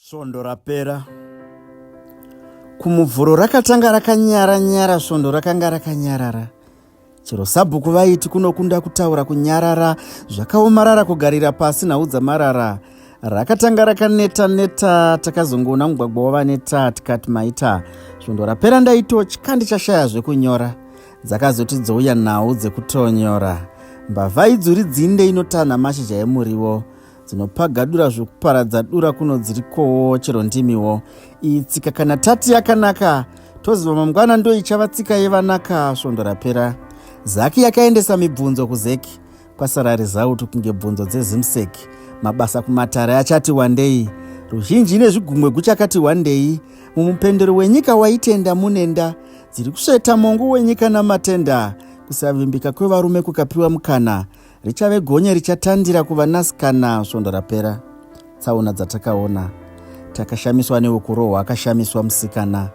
Svondo rapera kumuvhuro rakatanga rakanyara nyara svondo rakanga rakanyarara chero sabhuku vaiti kunokunda kutaura kunyarara zvakaomarara kugarira pasi nhau dzamarara rakatanga rakaneta neta takazongoona mugwagwa wavaneta tikati maita svondo rapera ndaitotya ndichashaya zvekunyora dzakazoti dzouya nhau dzekutonyora mbavha idzuri dzinde inotanha mashizha emuriwo dzinopagadura zvokuparadza dura kuno dziri kowo chero ndimiwo iyi tsika kana tati yakanaka toziva mangwana ndo ichava tsika yevanaka svondo rapera zaki yakaendesa mibvunzo kuzeki kwasara rezauto kunge bvunzo dzezimsek mabasa kumatare achati wandei ruzhinji nezvigumwe guchakati wandei mumupendero wenyika waitenda munenda dziri kusveta mongo wenyika namatenda kusavimbika kwevarume kukapiwa mukana richave gonye richatandira kuvanasikana svondo rapera tsaona dzatakaona takashamiswa neukurohwa akashamiswa musikana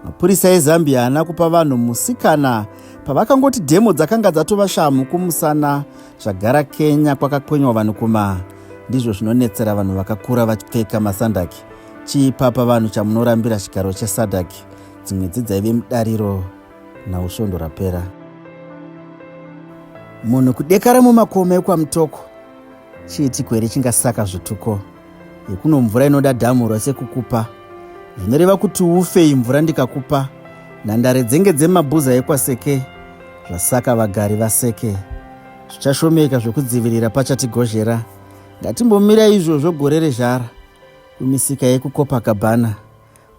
mapurisa ezambia haana kupa vanhu musikana pavakangoti dhemo dzakanga dzatova shamhu kumusana zvagara kenya kwakakwenywa vanhu kuma ndizvo zvinonetsera vanhu vakakura vachipfeka masandaki chii papa vanhu chamunorambira chigaro chesadaki dzimwe dzidzaive mudariro now svondo rapera munhu kudekara mumakomo ekwamutoko chiitiko here chingasaka zvituko yekuno mvura inoda dhamu rose kukupa zvinoreva kuti ufe imvura ndikakupa nhandare dzenge dzemabhuza ekwaseke zvasaka vagari vaseke zvichashomeka zvekudzivirira pachatigozhera ngatimbomira izvozvo gore rezhara kumisika yekukopa gabhana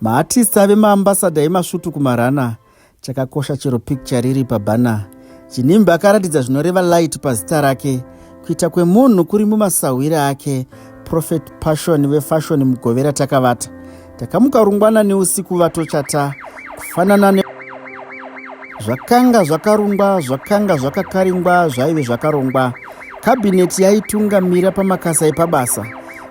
Maartists ave maambassador emasvutu kumarana chakakosha chero picture riri pabhana. Chinimbi akaratidza zvinoreva light pazita rake kuita kwemunhu kuri mumasahwire ake prophet passion vefashion mugovera takavata takamuka rungwana neusiku vatochata kufanana ne zvakanga zvakarungwa zvakanga zvakakaringwa zvaive zvakarongwa kabhineti yaitungamira pamakasa epabasa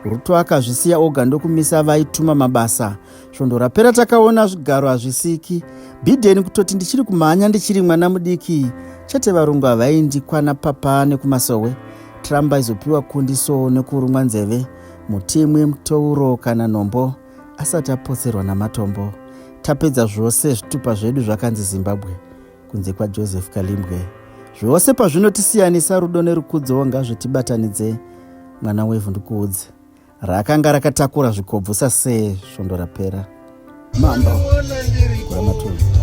ruto akazvisiya oga ndokumisa vaituma mabasa svondo rapera takaona zvigaro hazvisiki biden kutoti ndichiri kumhanya ndichiri mwana mudiki chete varungu havaindikwana papa nekumasowe trump aizopiwa kundi so nekurumwa nzeve mutimwi mutouro kana nhombo asati apotserwa namatombo tapedza zvose zvitupa zvedu zvakanzi zimbabwe kunze kwajoseph kalimbwe zvose pazvinotisiyanisa rudo nerukudzowo ngazvitibatanidze mwana wevhu ndikuudze raakanga rakatakura zvikobvusa se svondo rapera mambo kuramatunhu